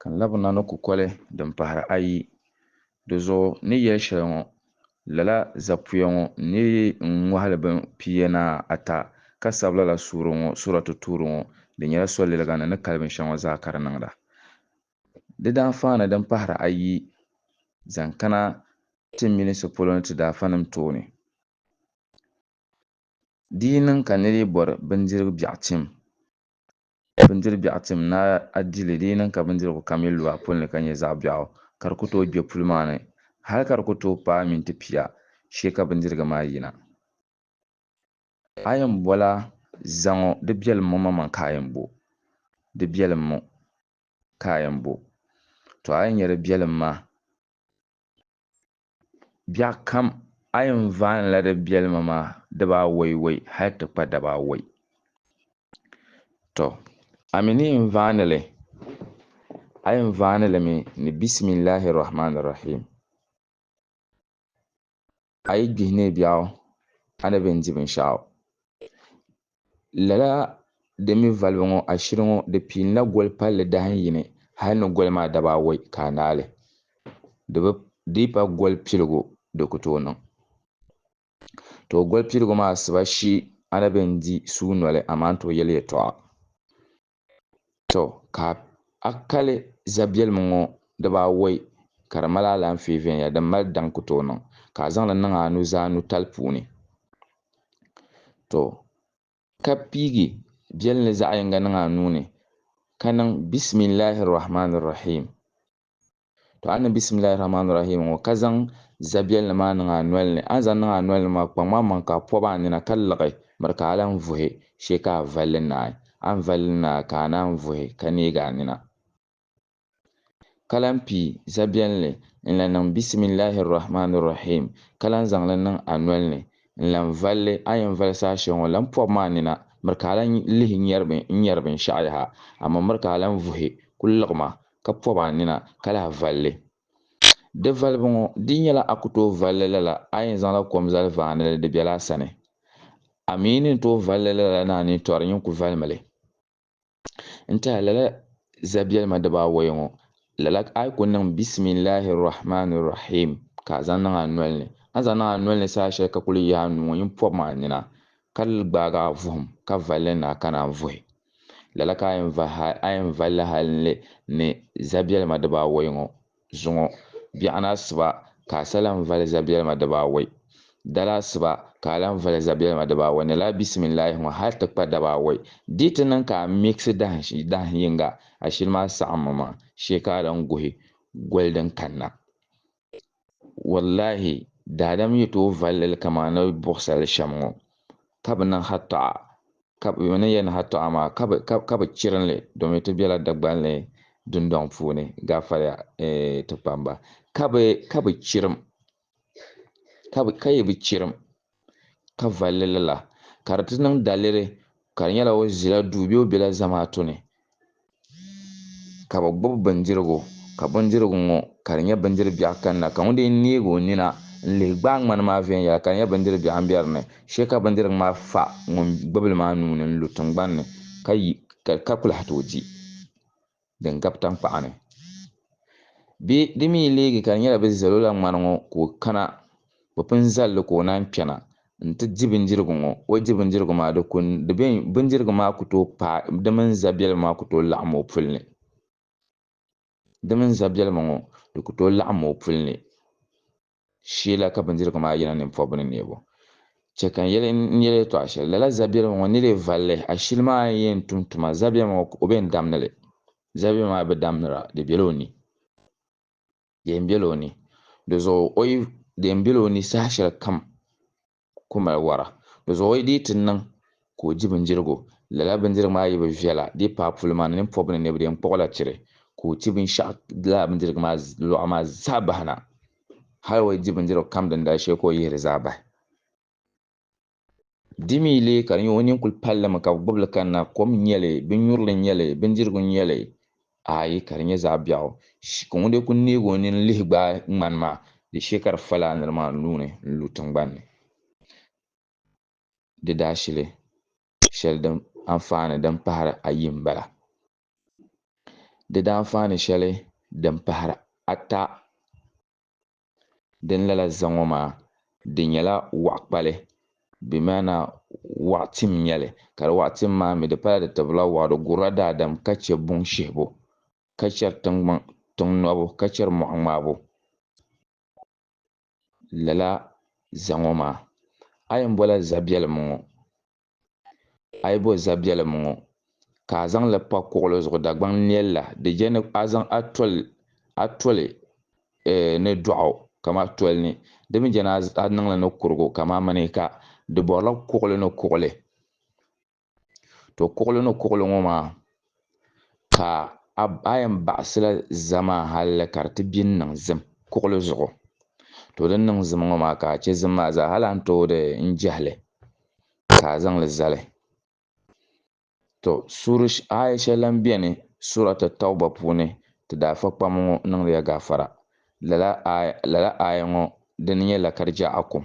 Ka n labi na ni kukoli din pahiri ayi. Di zuɣu ni yɛli shɛli ŋɔ, lala zapuya ŋɔ ni ŋɔhili bin pia ni ata ka sabi lala suuri ŋɔ, Suuratu Tuuri ŋɔ, di nyɛla soliliga ni ni kali binshɛɣu ŋɔ zaa ka di niŋda. Di daa faani din pahiri ayi zaŋ kana ti minisi polo ni ti daafanim tooni. Di yi niŋ ka nir yi bɔri bindirigu biɛɣu tim, Bindiri biɛɣu tim ni a di li, di yi niŋ ka bindirigu kam yi lu a puli ni ka nyɛ zaɣ biɛɣu, ka di ku tooi gbe puli maa ni, hal ka di ku tooi paai minti pia, chɛ ka bindirigu maa yina. A yɛn bɔla, Zaŋɔ, di biɛlim mo maŋmaŋ ka a yɛn bo? Di biɛlim mo ka a yɛn bo? Tɔ! A yi nya di biɛlim maa. Biɛɣukam a yi ni vaanila di biɛlima maa dibaawaiwai hal ti kpa dabaawai. Tɔ! A mi ni yɛn vaani li, a yɛn vaani li mi ni Bisimillahi Rahmaani Rahiim. A yi gbihi neei biɛɣu, a ni bi yɛn di binshɛɣu. Lala din mi valibu ŋɔ ashiri ŋɔ di piinila goli palli dahin yini hali ni goli maa daba awɔi ka a naai li. Di bi dii pa goli piligu di ku tooi niŋ. Too goli piligu maa asiba shi a na be n-di suu noli amaa n-tooi yɛli yɛtɔɣa. Tɔ! Ka a kali zabiɛlim ŋɔ dibaawɔi ka di mali alaanfee viɛnyɛla din mali daŋ ku tooi niŋ, ka a zaŋ li niŋ a nuzaa nutali puuni. Tɔ! Ka piigi biɛlim li zaɣ yiŋga niŋ a nuu ni, ka niŋ, Bisimillahi Rahmaani Rahiim. To a ni Bisimillahi Rahmani Rahiim ŋɔ ka zaŋ zabiɛlli maa niŋ a noli ni, a ni zaŋ niŋ a noli ni maa, kpaŋm a maŋ ka a pɔb a nina ka liɣi miri ka a lan vuhi shee ka a valli naai. A ni valli li naai ka a naan vuhi ka neeg a nina ka lan pii zabiɛlli n-lan niŋ Bisimillahi Rahmani Rahiim ka lan zaŋ li niŋ a noli ni n-lan valli. A yɛn vali saha shɛli ŋɔ, lan pɔbm a nina miri ka a lan lihi n-nyari binshɛɣu yaha, amaa miri ka a lan vuhi kul liɣim a ka pɔb a nina ka lahi vali li. Di valibu ŋɔ di nyɛla a ku tooi vali li lala a yɛn zaŋla kom zali vaani li di bela a sani. A mi ni ni tooi vali li lala ni a ni tɔri nyin ku valimi li. N tɛha lala zabiɛlima dibaawɔi ŋɔ, lala a yi ku niŋ Bisimillahi Rahmaani Rahiim ka a zaŋ niŋ a noli ni, a ni zaŋ niŋ a noli ni saha shɛli ka kuli yaai a nuu ŋɔ nyin pɔb ma a nina ka gbaag a vuhim ka vali li ni a kana n-vuhi. Lala ka a yɛn valila hali n-li ni zabiɛlima dibaawɔi ŋɔ zuŋɔ. Biɛɣuni asiba ka a sa lan vali zabiɛlima dibaawɔi. Dala asiba ka a lan vali zabiɛlima dibaawɔi ni lala bisimillahi ŋɔ hali ti kpa dabaawɔi. Di yi ti niŋ ka a miɣisi dahin yiŋga ashili maa saɣimmi maa shee ka a lan guhi goli din kanna. Wallahi, daadam yi tooi vali lili kaman ni buɣisal shɛm ŋɔ, ka bɛ niŋ hatɔɣa, ka bɛ ni yɛn niŋ hatɔɣa maa, ka bɛ chirim li, domin ti bela Dagbanli dundɔŋ puuni, gaafariya ti kpamba, ka bɛ chirim, ka yi bi chirim, ka valli lala, ka di ti niŋ daliri ka di nyɛla o zila duu bee o bela zamaatu ni ka bɛ gbubi bindirigu ka bindirigu ŋɔ ka di nyɛ bindiri biɛɣu kanna ka ŋun dii neeg o nina n-lihi gbaai ŋmani maa viɛnyɛla ka di nyɛ bindiri biɛɣu m-be di ni shee ka bindirigu maa fa ŋun gbubi li maa nuu ni n-lu tiŋgbani ni ka kuli hati o di. din gabi taŋkpaɣu ni. Bɛ di mi yi leegi ka di nyɛla bɛ zalo la ŋmani ŋɔ ka o kana, bɛ pun zal li ka o naan kpɛna nti di bindirigu ŋɔ. O di bindirigu maa di ku di be bindirigu maa ku tooi paai di mini zabiɛlima maa ku tooi laɣim o puli ni. Di mini zabiɛlima ŋɔ di ku tooi laɣim o puli ni. shee la ka bindirigu maa yina nimpɔbbu ni neebu. Chɛ ka n yɛli n yɛla yɛtɔɣ shɛli, lala zabiɛlim ŋɔ ni lee vali li, ashili maa n yɛn tum tuma zabiɛm ŋɔ ka o be n-damni li. Zabiɛm maa bi damnira, di bela o ni. Deem bela o ni. Di zuɣu o yi deem bela o ni saha shɛlikam. ku mali wara. Di zuɣu o yi dii ti niŋ ka o di bindirigu, lala bindirigu maa yi bi viɛla di paai puli maa ni nini pɔbi ni nɛbidee n-kpuɣi la chiri ka o ti binshɛɣu lala bindirigu maa lɔɣu maa zaa bahi na. Hal o yi di bindirigu kam din dali shee ka o yihi di zaa bahi. Di mi leei ka di nyɛ o nini kuli pali li mi ka bi gbubi li kanna, kom n-nyɛ li, binnyurili n-nyɛ li, bindirigu n-nyɛ li, Aai, ka di nyɛ zaɣ biɛɣu. Sh! Ka ŋun lee kul neeg o nini lihi gbaai ŋmani maa, di shee ka di fa laa nir maa nuu ni n-lu tiŋgban ni. Di daashili shɛli din anfaani din pahir ayi m-bala. Di daanfaani shɛli din pahir ata. Din lala za ŋɔ maa, di nyɛla waɣ kpali, bimaana waɣ tim nyɛli, ka di waɣ tim maa mi di pala di tibila waɣ, di gurila daadam ka chɛ buŋ shihibu, ka chɛri tiŋgbaŋ tiŋ nɔbu, ka chɛri mɔɣu ŋmaabu. Lala za ŋɔ maa, a yɛn bɔla za biɛlim ŋɔ, A yi bo zabiɛlim ŋɔ, ka a zaŋ li pa kuɣili zuɣu Dagbaŋ nɛl la, di je ni a zaŋ a tol a toli ni dɔɣu kam a toli ni, di mi je ni a niŋ li ni kurigu kam a mini ka di bɔrila kuɣili ni kuɣili. To kuɣili ni kuɣili ŋɔ maa. ka a a yɛn baɣisila zamaa halli ka di ti bini niŋ zim kuɣili zuɣu. To din niŋ zim ŋɔ maa ka a chɛ zim maa zaa hali a ni tooi di n-jɛhi li ka a zaŋ li zali. To suuri aaya shɛli lan beni Suurat At-Tawba puuni Ti daa fa kpam ŋɔ niŋdi ya gaafara. Lala aaya, lala aaya ŋɔ dini nyɛ lakarjaakum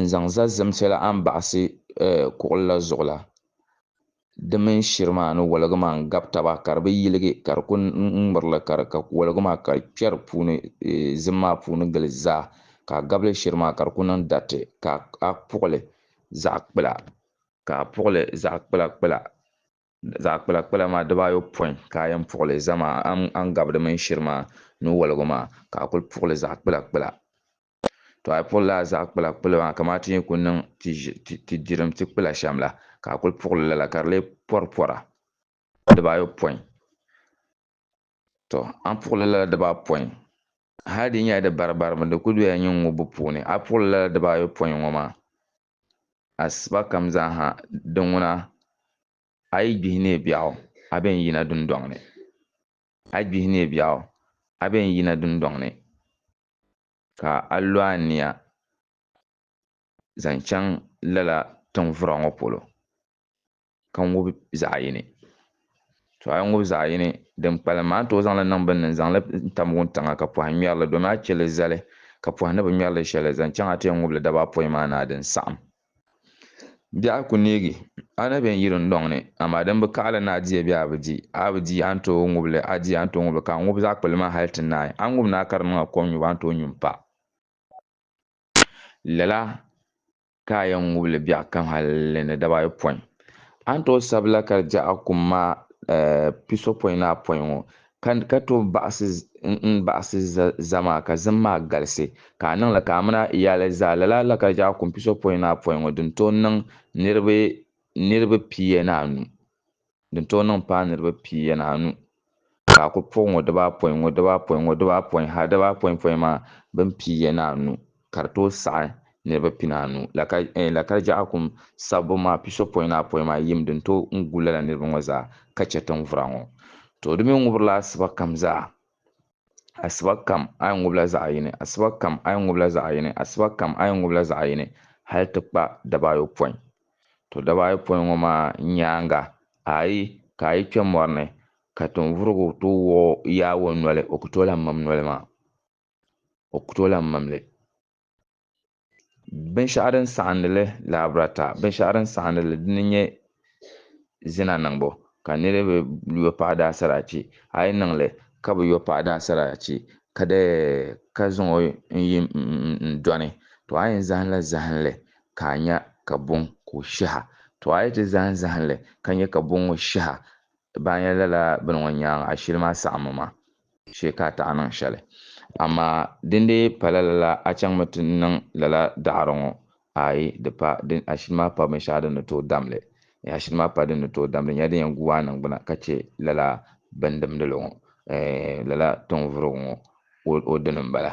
N zaŋ za zimsi la a ni baɣisi kuɣili la zuɣu la, di mini shiri maa ni woligi maa n-gabi taba ka di bi yiligi ka di ku ŋmiri li ka di ka woligi maa ka di kpɛri puuni zim maa puuni gili zaa ka a gabili shiri maa ka di ku niŋ dariti ka a puɣili zaɣ kpila ka a puɣili zaɣ kpilakpila zaɣ kpilakpila maa diba ayopɔin ka a yɛn puɣili zama a ni gabi di mini shiri maa ni woligi maa ka a kuli puɣili zaɣ kpilakpila. To a puɣi lala zaɣ kpula kpuli maa kamani ti ni ku niŋ ti dirim ti kpula shɛm la, ka a kuli puɣi li lala ka di lee pɔri pɔra dibaayopɔin. To a ni puɣi li lala dibaapɔin, hal di nyɛla di baribaribu di ku doya nyin ŋubbu puuni, a puɣi li lala dibaayopɔin ŋɔ maa, asiba kam zaa ha di ŋuna a yi gbihi neebiɛɣu a bɛn yina dundɔŋ ni. a gbihi neei biɛɣu, a bɛn n yina dundɔŋ ni, ka a lo a nia zaŋ chaŋ lala tiŋvura ŋɔ polo, ka ŋub zaɣ yini. Tɔ! A yi ŋub zaɣ yini, din kpalim maa, a ni tooi zaŋ li niŋ bini ni n-zaŋ li tam wuntaŋa ka pɔhim ŋmɛri li, domin a chɛ li zali, ka pɔhi ni bi ŋmɛri li shɛli zaŋ chaŋ a ti yɛn ŋub li dabaa pɔi maa ni a din saɣim. Biɛɣu ku neegi a ni bɛn yiri n dɔŋ ni, amaa din bi kaɣili ni a di a bee a bi di. A bi di, a ni tooi ŋub li, a di, a ni tooi ŋub li, ka a ŋub zaɣ kpulli maa hal ti naai. A ni ŋub ni a ka di niŋ a kom nyubu, a ni tooi nyu m-pa. Lala ka a yɛn ŋub li biɛɣu kam hali ni daba ayopɔin. A ni tooi sabila ka di je a kum maa pisopɔinaapɔin ŋɔ, Ka ka tooi baɣisi n baɣisi zama maa ka zim maa galisi ka a niŋ li ka amina yaali zaa lala Lakarijaa kumpiso pɔin ni apɔin ŋɔ din tooi niŋ niriba niriba pia ni anu din tooi niŋ paai niriba pia ni anu ka a kuli puɣi ŋɔ dibaapɔin ŋɔ dibaapɔin ŋɔ dibaapɔin ha dibaapɔinpɔin maa bini pia ni anu. ka di tooi saɣi niriba pinaanu la ka Lakarjaɣa kum sabbu maa pisopɔin ni apɔin maa yim din tooi n gu lala niriba ŋɔ zaa ka chɛ tiŋvura ŋɔ. Tɔ di mi ŋubirila asiba kam zaa, asiba kam a yi ŋubila zaɣiyini, asiba kam a yi ŋubila zaɣiyini, asiba kam a yi ŋubila zaɣiyini hali ti kpa dabaayopɔin. Tɔ dabaayopɔin ŋɔ maa nyaaŋa a yi ka a yi kpe mɔri ni ka tiŋvurigu tooi wuɣi Yawɛ noli, o ku tooi lahi mim noli maa. o ku tooi lahi mam li. Binshɛɣu din saɣindi li lahabirata, binshɛɣu din saɣindi li dini n-nyɛ zina niŋbu ka niriba yo paɣa daa saraachi. A yi niŋ li ka bi yo paɣa daa saraachi ka di ka zaŋ o n-yi m dɔni, tɔ a yɛn zahimla zahinli ka a nya ka buŋ ka o shɛh a. Tɔ a yi ti zahim zahinli ka nya ka buŋ ŋɔ shɛh a, baa nya lala bini ŋɔ nyaaŋa, ashili maa saɣimmi maa. shee ka a taɣi niŋ shɛli. Amaa dindee pala lala a chaŋmi ti niŋ lala daɣiri ŋɔ? Aai, di pa, din ashili maa pa binshɛɣu din ni tooi dam li. Eeh, ashili maa pa din ni tooi dam li, nyɛla din yɛn guui a niŋgbuna ka chɛ lala bɛn dimdili ŋɔ, eeh, lala tɔŋvurigu ŋɔ o dini m-bala.